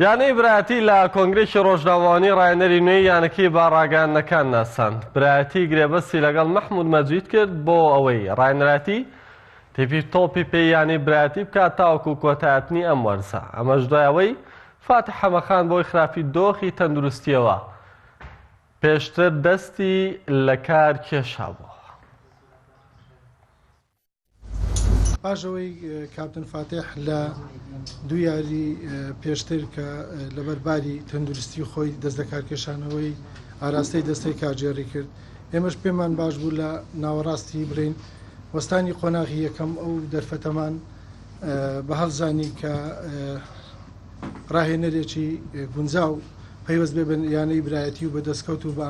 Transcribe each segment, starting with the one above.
یانەی برایەتی لە کۆنگرێکی ڕۆژنامەوانی ڕایەنەری نوێی یانەکەی بە ڕاگەیاندنەکان ناساند برایەتی گرێبەستی لەگەڵ مەحمود مەجید کرد بۆ ئەوەی ڕایەنراتی تیپی تۆپی پێی یانەی برایەتی بکات تاوەکو کۆتایەتنی ئەم وەرزە ئەمەش دوای ئەوەی فاتح حەمەخان بۆی خراپی دۆخی تەندروستیەوە پێشتر دەستی لە کار کێشابوو پاش ئەوەی کاپتن فاتح لە دوو یاری پێشتر کە لەبەر باری تەندروستی خۆی دەست دەکارکێشانەوەی ئاراستەی دەستەی کارگێڕی کرد ئێمەش پێمان باش بوو لە ناوەڕاستی برین وەستانی قۆناغی یەکەم ئەو دەرفەتەمان بە هەڵزانی کە ڕاهێنەرێکی گونجاو پەیوەست بێ بن یانەی برایەتی و بەدەستکەوت و بە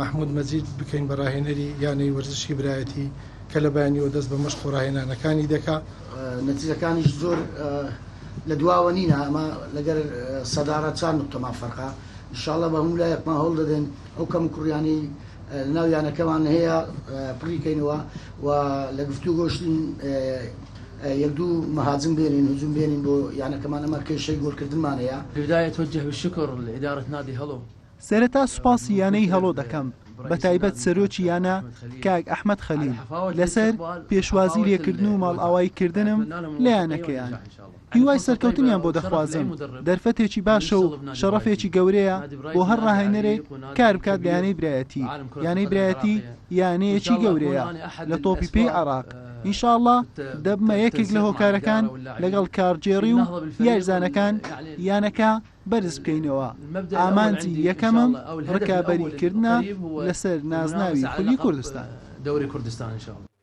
مەحمود مەجید بکەین بە راهێنەری یانەی وەرزشی برایەتی کە لە بەیانیوە دەست بە مەشق و راهێنانەکانی دەکا نەتیجەکانیش زۆر لە دواوە نینە ئەمە لەگەر سەدارە چار نقطەمان فەرقا انشاءاللە بە هەموو لایەکمان هەوڵ دەدەین ئەو کەم و کوڕیانەی ناو یانەکەمان هەیە پڕیکەینەوە و لە گفتو گۆشتین یەک دوو مەهاجم بێنین هجوم بێنین بۆ یانەکەمان ئەمە کێشەی گۆلکردنمان هەیە بداية توجه بالشكر لإدارة نادي هەڵۆ سەرەتا سوپاسی یانەی هەڵۆ دەکەم بەتایبەت سەرۆکی یانە کاک ئەحمەد خەلیل لەسەر پێشوازی لێکردن و ماڵئاوایی کردنم لە یانەکەیان هیوای سەرکەوتنیان بۆ دەخوازم دەرفەتێکی باشە و شەڕەفێکی گەورەیە بۆ هەر ڕاهێنەرێک کار بکات لە یانەی برایەتی یانەی برایەتی یانەیەکی گەورەیە لە تۆپی پێی عێراق ان شاء اللە دەبمە یەکێک لە هۆکارەکان لەگەڵ کارگێڕی و یاریزانەکان یانەکە بەرز بکەینەوە، ئامانجی یەکەمم ڕکابەریکردنە لەسەر نازناوی خولی کوردستان.